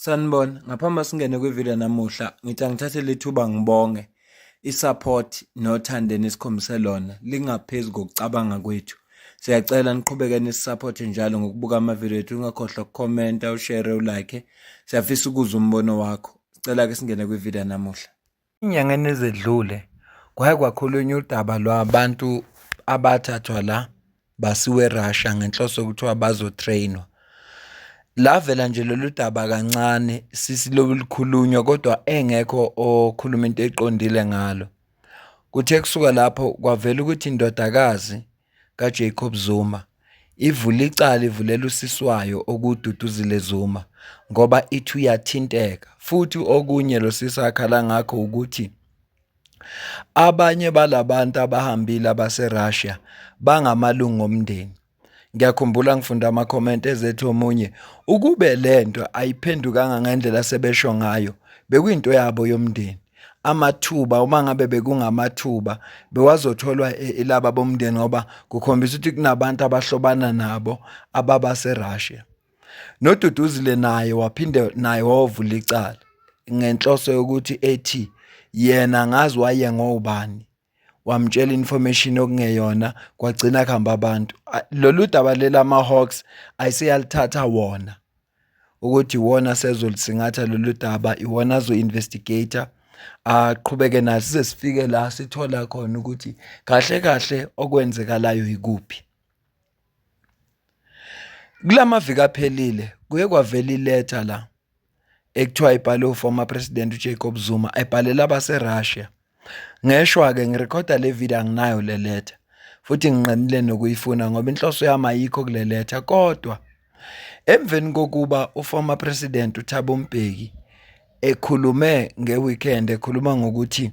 Sanibona, ngaphambi singene kwivideo namuhla, ngithi angithathe lethuba ngibonge isupport nothando enikhombise lona lingaphezulu kokucabanga kwethu. Siyacela niqhubeke nisisupport njalo ngokubuka amavideo ethu, ungakhohlwa ukukhomenta, ushare, ulike. Siyafisa ukuzwa umbono wakho. Sicela ke singene kwivideo namuhla. Ey'nyangeni ezedlule kwake kwakhulunywa udaba lwabantu abathathwa la basiwa eRussia ngenhloso yokuthiwa bazo-train-wa. Lavela nje lolu daba kancane sisilokhu lukhulunywa kodwa engekho okhuluma into eqondile ngalo. Kuthe kusuka lapho kwavela ukuthi indodakazi. kaJacob Zuma ivule icala ivulela usisi wayo okuwuDuduzile Zuma ngoba ithi uyathinteka futhi okunye lo sisi akhala ngakho ukuthi abanye balabantu abahambile abaseRussia bangamalungu omndeni ngiyakhumbula ngifunda ama-comment ezethi omunye ukube le nto ayiphendukanga ngendlela sebesho ngayo bekuyinto yabo yomndeni amathuba uma ngabe bekungamathuba bewazotholwa ilaba e, bomndeni ngoba kukhombisa ukuthi kunabantu abahlobana nabo ababa seRussia noduduzile naye waphinde naye wawovula icala ngenhloso yokuthi ethi yena ngazi waye ngobani wamtshela information okungeyona kwagcina kuhamba abantu lolu daba lela ama-hawks ayiseyalithatha wona ukuthi iwona sezolisingatha lolu daba iwona azo-investigator aqhubeke nayo size sifike la sithola khona ukuthi kahle kahle okwenzekalayo yikuphi kulamaviki aphelile kuye kwavela iletha la ekuthiwa ibhale uformer president uJacob Zuma ebhalela abaseRussia ngeshwa-ke ngirekhoda le video anginayo le letha futhi nginqenile nokuyifuna ngoba inhloso yami ayikho kule letha kodwa emveni kokuba uformer president uThabo Mbeki ekhulume ngeweekend ekhuluma ngokuthi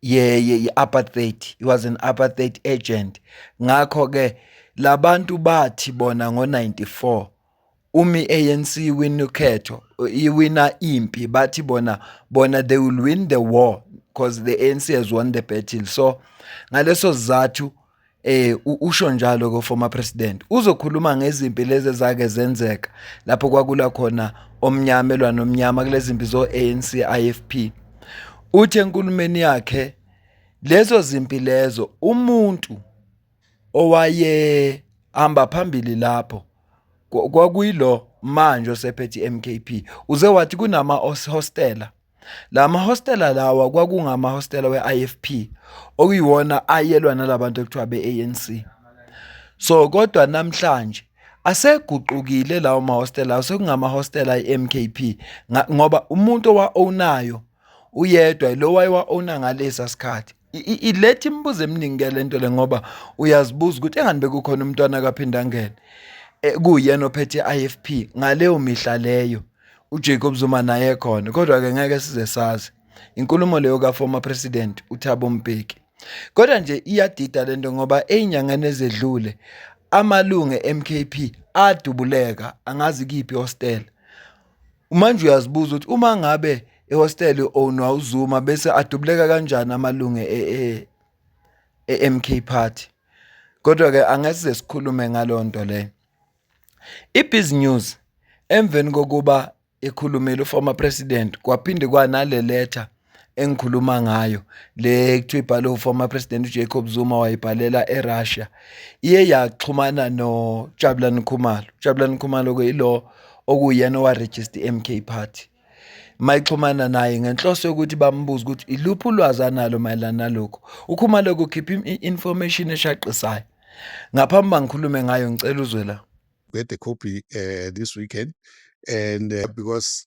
ye-apartheid, he was an apartheid agent. Ngakho-ke la bantu bathi bona ngo-ninety-four uma i-A_N_C iwina ukhetho, iwina impi, bathi bona, bona they will win the war cause the A_N_C has won the battle. So, ngaleso sizathu. eh usho njalo ko former president uzokhuluma ngezimpi lezi ezake zenzeka lapho kwakula khona omnyama elwa nomnyama kulezimpi zo ANC IFP uthe enkulumeni yakhe lezo zimpi lezo umuntu owaye hamba phambili lapho kwakuyilo manje osephethe iMKP uze wathi kunama hostela la mahostela lawa kwakungamahostela we-IFP okuyiwona ayelwa nalabantu ekuthiwa be-ANC so kodwa namhlanje aseguqukile lawo mahostela lawo sekungamahostela i-MKP ngoba umuntu owa-ownayo uyedwa lo wayewa-owna ngalesa sikhathi iletha imibuzo eminingi ke lento le ngoba uyazibuza ukuthi engani bekukhona umntwana akaphinda ngene e, kuyena ophethe IFP ngaleyo mihla leyo uJacob Zuma naye khona kodwa ke ngeke size sazi inkulumo leyo ka former president uThabo Mbeki kodwa nje iyadida lento ngoba einyangane ezedlule amalungu eMKP adubuleka angazi kiphi hostel Manje uyazibuza ukuthi uma ngabe ehostele ownwa uZuma bese adubuleka kanjani amalunge e-MK e, e Party. Kodwa-ke angesize sikhulume ngaleyo nto leyo. I-Biz News emveni kokuba ekhulumile u-former president kwaphinde kwanale letha engikhuluma ngayo le kuthiwa ibhale uformer president uJacob Zuma wayibhalela eRussia iye yaxhumana noJabulani Khumalo uJabulani Khumalo ke ilo okuyena owaregister iMK party mayixhumana naye ngenhloso yokuthi bambuze ukuthi iluphi ulwazi analo mayelana nalokho ukhuma lokho khipha information eshaqisayo ngaphambi bangikhulume ngayo ngicela uzwe la we had a copy uh, this weekend and uh, because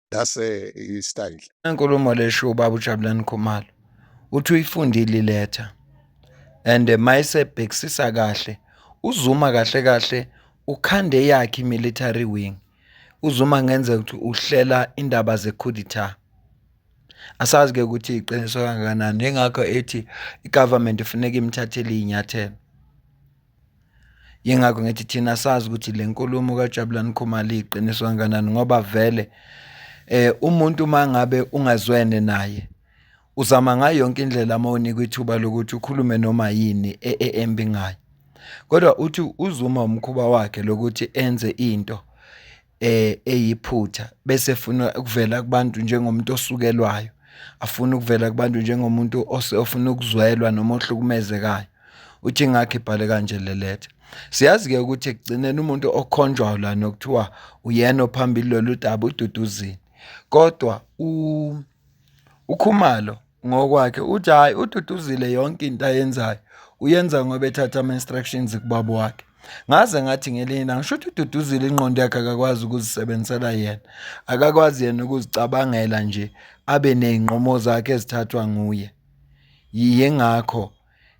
that's a style inkulumo lesho ubaba uJabulani Khumalo uthi uyifundile iletha and mayisebhekisisa kahle uzuma kahle kahle ukhande yakhe military wing uzuma ngenzeka ukuthi uhlela indaba zekhuditha asazi ke ukuthi iqiniso kangakanani ingakho ethi igovernment ifuneka imthathele inyathelo Yingakho ngithi thina sazi ukuthi le nkulumo kaJabulani Khumalo iyiqiniso kangakanani ngoba vele eh umuntu mangabe ungazwene naye uzama ngayo yonke indlela uma unikwa ithuba lokuthi ukhulume noma yini e- e- embi ngayo kodwa uthi uzuma umkhuba wakhe lokuthi enze into eh eyiphutha bese efuna ukuvela kubantu njengomuntu osukelwayo afuna ukuvela kubantu njengomuntu ofuna ukuzwelwa noma ohlukumezekayo uthi ngakho ibhale kanje le letha siyazi-ke ukuthi ekugcineni umuntu okhonjwayo la nokuthiwa uyena ophambili lolu daba ududuzini kodwa ukhumalo Ngokwakhe uthi hhayi ududuzile yonke into ayenzayo uyenza ngoba ethatha ama-instructions kubaba wakhe ngaze ngathi ngelinye ilanga ngisho ukuthi ududuzile ingqondo yakhe akakwazi ukuzisebenzisela yena akakwazi yena ukuzicabangela nje abe ney'nqumo zakhe ezithathwa nguye yingakho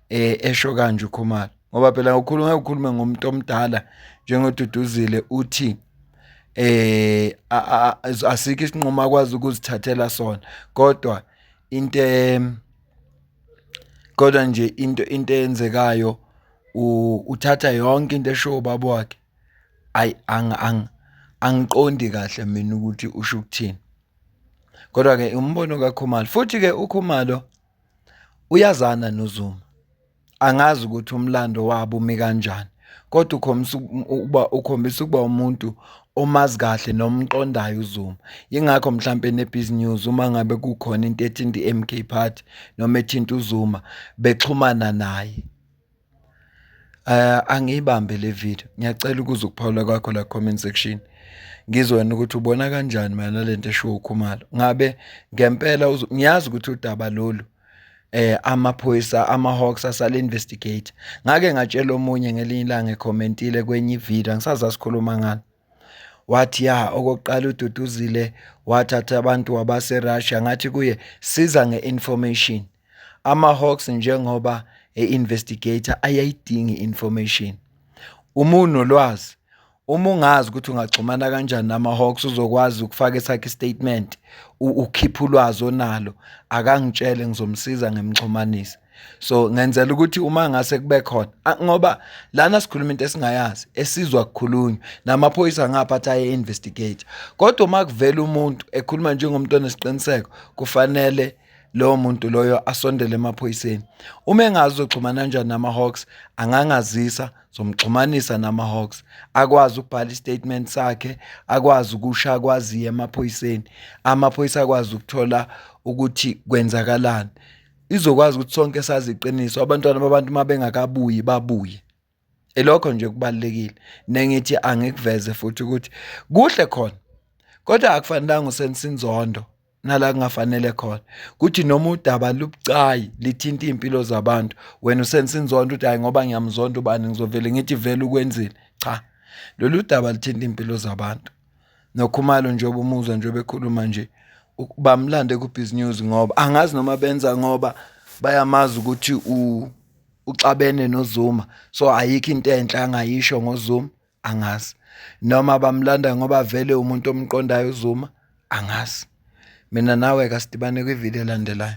eh esho kanje uKhumalo ngoba phela ngokhuluma ukukhuluma ngomuntu omdala njengoduduzile uthi eh asikho isinqumo akwazi ukuzithathela sona kodwa into kodwa nje into into eyenzekayo uthatha yonke into esho ubaba wakhe ayi ang ang angiqondi kahle mina ukuthi usho ukuthini kodwa ke umbono kaKhumalo futhi ke uKhumalo Uyazana noZuma, angazi ukuthi umlando wabo umi kanjani kodwa ukhombisa ukuba ukhombisa ukuba umuntu omazi kahle noma umqondayo uZuma. Yingakho mhlampe neBiz News uma ngabe kukhona into ethinta i-MK Party noma ethinta uZuma bexhumana naye. Angiyibambe le video, ngiyacela ukuza ukuphawula kwakho la comment section ngizwe wena ukuthi ubona kanjani mayelana nale nto eshiwo uKhumalo. Ngabe ngempela ngiyazi ukuthi udaba lolu eh amaphoyisa ama-hawks asale investigate ngake ngatshela omunye ngelinye ilanga ekhomentile kwenye ivideo angisazi asikhuluma ngani wathi ya okokuqala ududuzile wathatha abantu wabaserussia ngathi kuye siza nge-information ama-hawks njengoba e-investigator ayayidingi i-information uma unolwazi uma ungazi ukuthi ungaxhumana kanjani nama-hawks uzokwazi ukufaka esakhe istatement ukhiphe ulwazi onalo akangitshele ngizomsiza ngimxhumanise so ngenzela ukuthi uma ngase kube khona ngoba lana sikhuluma into esingayazi esizwa kukhulunywa namaphoyisa ngapha athi aye investigate kodwa uma kuvela umuntu ekhuluma njengomuntu onesiqiniseko kufanele lowo muntu loyo asondele emaphoyiseni uma engazi uxhumana kanjani nama-hawks angangazisa zomxhumanisa nama-hawks akwazi ukubhala istatement sakhe akwazi ukusha akwaziyo emaphoyiseni amaphoyisa akwazi ukuthola ukuthi kwenzakalani izokwazi ukuthi sonke sazi iqiniso abantwana babantu uma bengakabuyi babuye elokho nje kubalekile nengithi angikuveze futhi ukuthi kuhle khona kodwa akufanelanga usense inzondo nala kungafanele khona kuthi noma udaba lubucayi lithinta impilo zabantu wena usense inzondo uthi hayi ngoba ngiyamzonda ubani ngizovele ngithi vele ukwenzile cha lolu daba lithinta impilo zabantu noKhumalo njengoba umuzwa njengoba ekhuluma nje bamlande ku-biz news ngoba angazi noma benza ngoba bayamazi ukuthi uxabene nozuma so ayikho into enhle angayisho ngozuma angazi noma bamlanda ngoba vele umuntu omqondayo uzuma angazi mina nawe kasidibane kwividiyo elandelayo